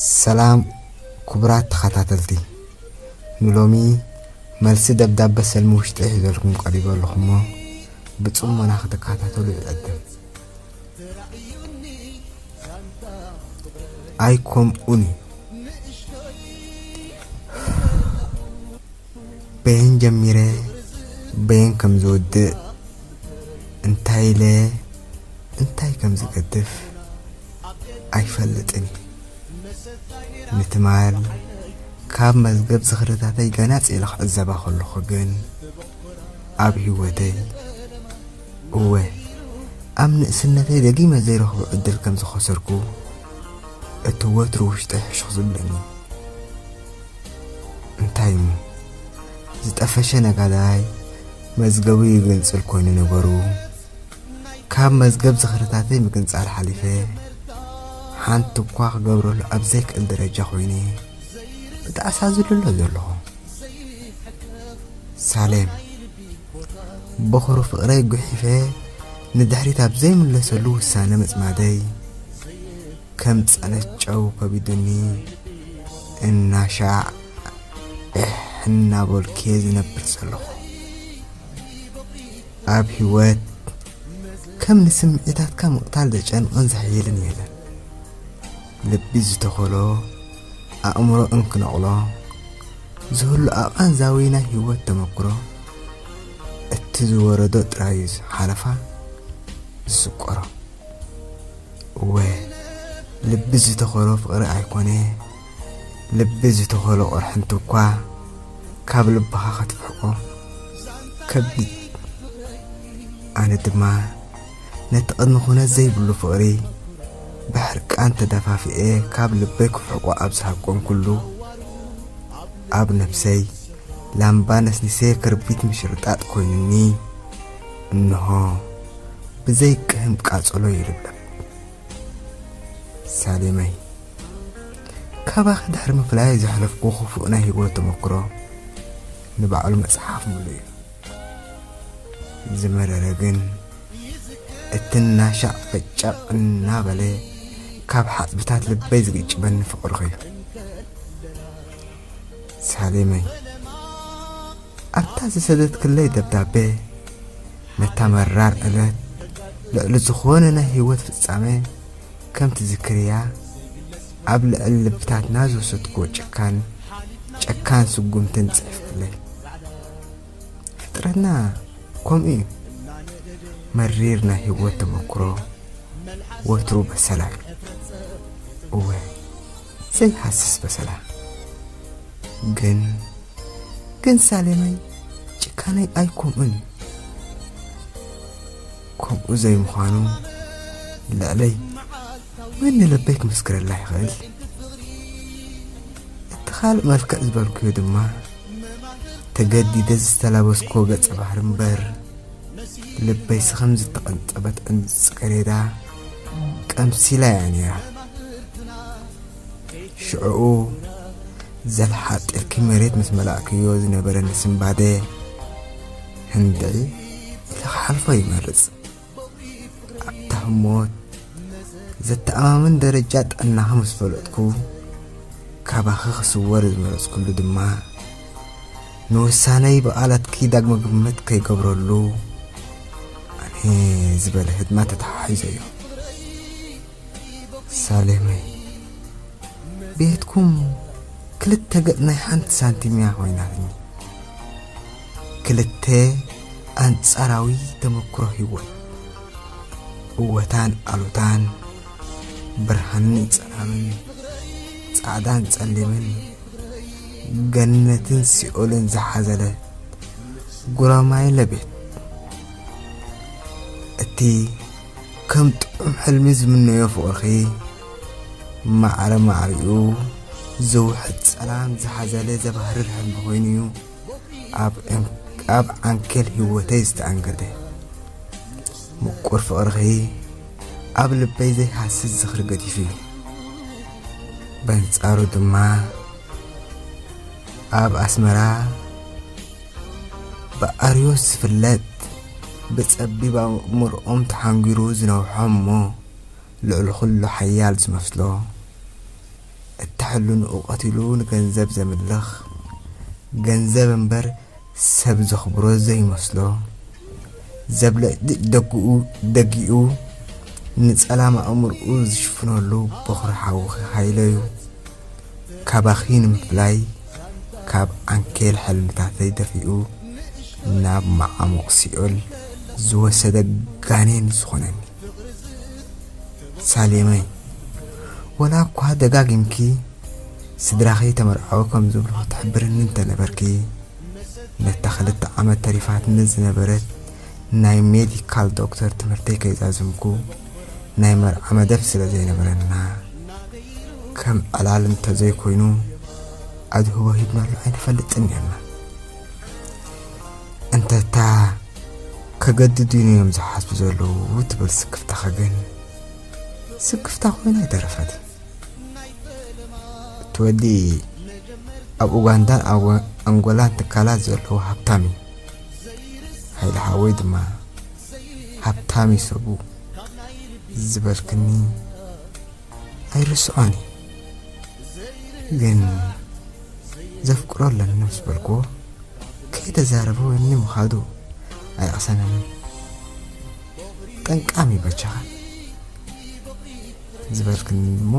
ሰላም ክቡራት ተኸታተልቲ ንሎሚ መልሲ ደብዳበ ሰልሚ ውሽጢ ሒዘልኩም ቀሪበ ኣለኹሞ ብፅሞና ክትከታተሉ ይዕድም ኣይኮምኡን እዩ በየን ጀሚረ በየን ከም ዝውድእ እንታይ ኢለ እንታይ ከም ዝገድፍ ኣይፈልጥን። ንትማል ካብ መዝገብ ዝኽርታተይ ገናጽ ኢለ ክዕዘባ ከለኹ ግን ኣብ ህይወተይ እወ ኣብ ንእስነተይ ደጊመ ዘይረኽቦ ዕድል ከም ዝኸሰርኩ እቲ ወትሩ ውሽጠይ ሕሹኽ ዝብለኒ እንታይ እሞ ዝጠፈሸ ነጋዳይ መዝገቡ ይግንጽል ኮይኑ ነበሩ ካብ መዝገብ ዝኽርታተይ ምግንጻል ሓሊፈ ሓንቲ እኳ ክገብረሉ ኣብ ዘይክእል ደረጃ ኮይነ ብጣዕሳ ዝልሎ ዘለኹ ሳሌም በኹሩ ፍቕረይ ጉሒፈ ንድሕሪት ኣብ ዘይምለሰሉ ውሳነ ምጽማደይ ከም ጸነት ጨው ከቢዱኒ እናሻዕ እሕ እናበልኩ'የ ዝነብር ዘለኹ። ኣብ ህይወት ከም ንስምዒታትካ ምቕታል ዘጨንቕን ዘሕይልን የለን። ልቢ ዝተኸሎ ኣእምሮ እንክነቕሎ ዝህሉ ኣቓንዛዊ ናይ ህይወት ተመክሮ እቲ ዝወረዶ ጥራዩ ሓለፋ ዝስቆሮ እወ ልቢ ዝተኸሎ ፍቕሪ ኣይኮነ ልቢ ዝተኸሎ ቕርሕንቲ እኳ ካብ ልብኻ ከትፍሕቆ ከቢድ ኣነ ድማ ነቲ ቅድሚ ኩነት ዘይብሉ ፍቕሪ ብሕርቃን ተደፋፊኤ ካብ ልበይ ክፍሕቆ ኣብ ዝሃቆንኩሉ ኣብ ነብሰይ ላምባ ነስኒሰ ክርቢት ምሽርጣጥ ኮይኑኒ እንሆ ብዘይቅህም ቃጸሎ ይልብለብ። ሳሌመይ ካባኺ ድሕሪ ምፍላየይ ዘሕለፍኩ ክፉእ ናይ ህይወት ተመክሮ ንባዕሉ መጽሓፍ ምሉ እዩ። ዝመረረ ግን እቲ እናሻዕ ፈጨቕ እናበለ ካብ ሓጽብታት ልበይ ዝግጭበኒ ፍቕርኺ እዩ። ሳሌመይ ኣብታ ዝሰደትክለይ ደብዳቤ ነታ መራር ዕለት ልዕሊ ዝኾነ ናይ ህይወት ፍጻመ ከም ትዝክርያ ኣብ ልዕሊ ልብታትና ዝወሰድክዎ ጨካን ጨካን ስጉምትን ጽሒፍክለይ ፍጥረትና ከምኡ እዩ መሪር ናይ ህይወት ተመክሮ ወትሩ በሰላዩ እወ ዘይሃስስ በሰላ ግን ግን ሳሌመይ ጭካነይ ኣይኮምኡን እዩ ከምኡ ዘይምዃኑ ልዕለይ መን ንልበይ ክምስክረላ ይኽእል እቲ ካልእ መልክዕ ዝበልኩዮ ድማ ተገዲደ ዝተላበስክዎ ገጸ ባህሪ እምበር ልበይ ስኸም ዝተቐንጠበት ዕንዲ ጽገሬዳ ቀምሲላ እያ ነይራ ሽዕኡ ዘልሓጥርኪ መሬት ምስ መላእክዮ ዝነበረኒ ስምባደ ህንድዒ ኢለ ክሓልፎ ይመርጽ ኣብታ ህሞት ዘተኣማምን ደረጃ ጥዕናኺ ምስ ፈለጥኩ ካባኺ ክስወር ዝመረጽኩሉ ድማ ንውሳነይ ብቓላትኪ ዳግመ ግምት ከይገብረሉ ኣነ ዝበለ ህድማ ተተሓሒዘዮ ሳሌመይ ቤትኩም ክልተ ገጽ ናይ ሓንቲ ሳንቲም እያ ኮይናትኒ ክልተ ኣንጻራዊ ተመክሮ ህይወት እወታን ኣሉታን ብርሃንን ጸላምን ጻዕዳን ጸሊምን ገነትን ሲኦልን ዝሓዘለ ጉራማይለ ቤት እቲ ከም ጥዑም ሕልሚ ዝምነዮ ፍቕርኺ ማዕረ ማዕሪኡ ዝውሕድ ጸላም ዝሓዘለ ዘባህርር ሕልሚ ኮይኑ እዩ ኣብ ዕን- ኣብ ዓንኬል ህይወተይ ዝተኣንገደ ምቁር ፍቕርኺ ኣብ ልበይ ዘይሃስስ ዝኽሪ ገዲፉ እዩ በንጻሩ ድማ ኣብ ኣስመራ ብኣርዮስ ዝፍለጥ ብጸቢብ ኣእምርኦም ተሓንጒሩ ዝነውሖም እሞ ልዕሊ ኹሉ ሓያል ዝመስሎ እታ ሕልንኡ ቀቲሉ ንገንዘብ ዘምልኽ ገንዘብ እምበር ሰብ ዘኽብሮ ዘይመስሎ ዘብለጭልጭ ደጉኡ ደጊኡ ንጸላም ኣእምርኡ ዝሽፍነሉ በዅሪ ሓውኺ ሃይለ'ዩ። ካባኺ ንምፍላይ ካብ ዓንኬል ሕልምታተይ ደፊኡ ናብ መዓሙቕ ሲኦል ዝወሰደ ጋኔን ዝኾነኒ ሳሌመይ ወላ እኳ ደጋጊምኪ ስድራኺ ተመርዓዊ ከም ዝብልኹ ትሕብርኒ እንተ ነበርኪ፣ ነታ ክልተ ዓመት ተሪፋትኒ ዝነበረት ናይ ሜዲካል ዶክተር ትምህርተይ ከይዛዘምኩ፣ ናይ መርዓ መደብ ስለ ዘይነበረና፣ ከም ዕላል እንተ ዘይኮይኑ ኣድህቦ ሂብናሉ ኣይንፈልጥን ኔርና። እንተታ ከገድዱኒ እዮም ዝሓስቡ ዘለዉ ትብል ስክፍታኸ ግን ስክፍታ ኮይና ኣይተረፈትን። እቲ ወዲ ኣብ ኡጋንዳን ኣብ ኣንጎላን ትካላት ዘለዎ ሃብታም እዩ ሃይለ ሓወይ ድማ ሃብታም እዩ ሰቡ ዝበልክኒ ኣይርስዖን እዩ ግን ዘፍቅሮ ኣለኒ ምስ በልክዎ ከይተዛረበ ወኒ ምኻዱ ኣይቕሰነንን ጠንቃም እዩ በቻኻ ዝበልክኒ እሞ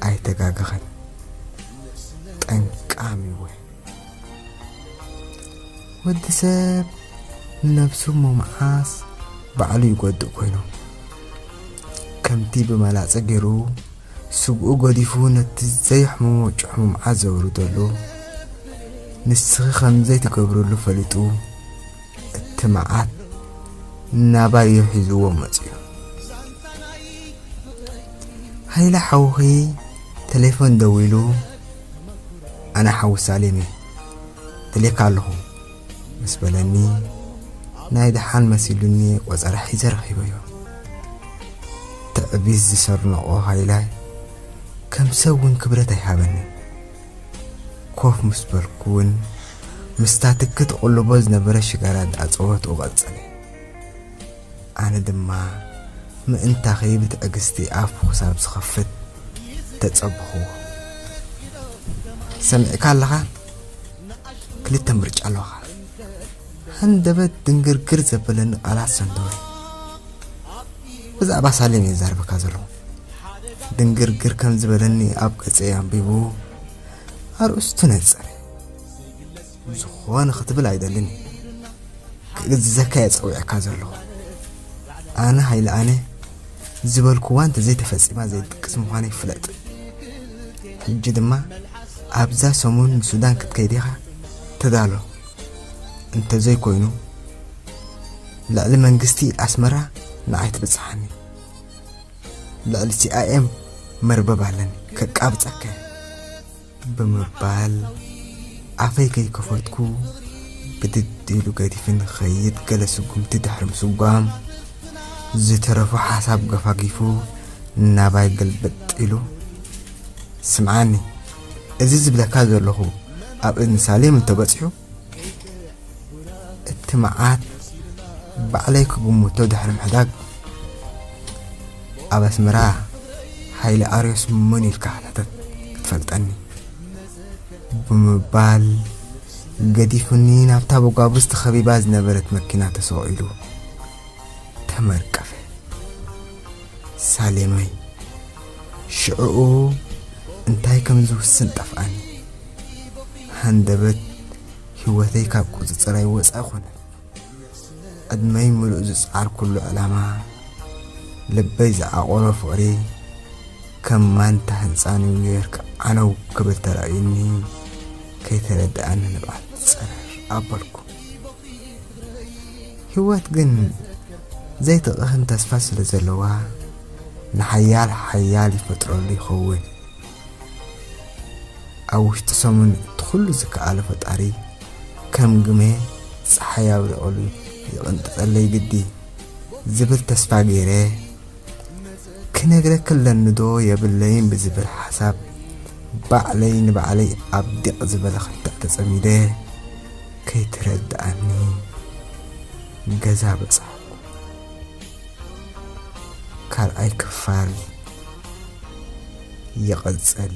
ኣይተጋገኸን ጠንቃሚ እወ ወዲ ሰብ ንነብሱ እሞ መዓስ ባዕሉ ይጎድእ ኮይኑ ከምቲ ብመላፀ ገይሩ ስግኡ ገዲፉ ነቲ ዘየሕምሞ ጭሕሙምዓ ዘውርደሉ ንስኺ ከምዘይትገብርሉ ፈሊጡ እቲ መዓት ናባዮ ሒዝዎ መጽዩ ሃይለ ሓውኺ ቴሌፎን ደዊሉ ኣነ ሓዊ ሳሌም እየ ደልየካ ኣለኹ ምስ በለኒ ናይ ደሓን መሲሉኒ ቆጸራ ሒዘ ረኺበዮ ትዕቢት ዝሰርነቖ ሃይላይ ከም ሰብ እውን ክብረት ኣይሃበንን ኮፍ ምስ በልኩ እውን ምስታ ትኪ ትቕልቦ ዝነበረት ሽጋራ እንዳኣጸወትኡ ቀጸለ። ኣነ ድማ ምእንታኺ ብትዕግስቲ ኣፉ ክሳብ ዝኸፍት ተጸበኹዎ። ሰሚዕካ ኣለኻ? ክልተ ምርጫ ኣለኻ። ሃንደበት ድንግርግር ዘበለኒ ቃላት ሰንተወ። ብዛዕባ ሳሌም እየ ዝዛረበካ ዘለኹ። ድንግርግር ከም ዝበለኒ ኣብ ገጸይ ኣንቢቡ ኣርእስቱ ነጸረ ዝኾነ ክትብል ኣይደልን ክእዝዘካ እየ ጸዊዐካ ዘለኹ ኣነ ሃይለ ኣነ ዝበልኩዋ እንተዘይተፈፂማ ዘይድቅስ ምዃነ ይፍለጥ ሕጂ ድማ ኣብዛ ሰሙን ንሱዳን ክትከይድ ኢኻ ተዳሎ እንተዘይኮይኑ ልዕሊ መንግስቲ ኣስመራ ንዓይ ትብፅሓኒ ልዕሊ ሲኣይኤም መርበብ ኣለኒ ከቃብጸከ ብምባል ኣፈይ ከይከፈትኩ ብድድ ኢሉ ገዲፊ ንኸይድ ገለ ስጉምቲ ድሕሪ ምስጓም ዝተረፉ ሓሳብ ገፋጊፉ ናባይ ገልበጥ ኢሉ ስምዓኒ እዚ ዝብለካ ዘለኹ ኣብ እዝኒ ሳሌም እንተበፂሑ እቲ መዓት ባዕለይ ክግምቶ ድሕሪ ምሕዳግ ኣብ ኣስመራ ሓይሊ ኣርዮስ መን ኢልካ ሕተተት ክትፈልጠኒ ብምባል ገዲፉኒ ናብታ በጓብዝ ተኸቢባ ዝነበረት መኪና ተሰቑ ኢሉ ተመርቀፈ ሳሌመይ ሽዕኡ እንታይ ከም ዝውስን ጠፍኣኒ ሃንደበት ህይወተይ ካብ ቁጽጽረይ ወጻኢ ኮነ። ዕድመይ ምሉእ ዝጸዓርኩሉ ዕላማ፣ ልበይ ዝዓቖሮ ፍቕሪ ከም ማንታ ህንጻን ዩኒዮርክ ዓነው ክብል ተራእዩኒ ከይተረድኣኒ ንብዓት ጸረር ኣበልኩ። ህይወት ግን ዘይትቕህም ተስፋ ስለ ዘለዋ ንሓያል ሓያል ይፈጥረሉ ይኸውን። ኣብ ውሽጢ ሰሙን እቲ ኩሉ ዝከኣሎ ፈጣሪ ከም ግመ ፀሓይ ኣብሪቐሉ ይቕንጥጠለይ ግዲ ዝብል ተስፋ ገይረ ክነግረክ ኣለኒዶ የብለይን ብዝብል ሓሳብ ባዕለይ ንባዕለይ ኣብ ዲቕ ዝበለ ክትዕ ተፀሚደ ከይተረድኣኒ ገዛ በፃሕኩ። ካልኣይ ክፋል ይቕጽል።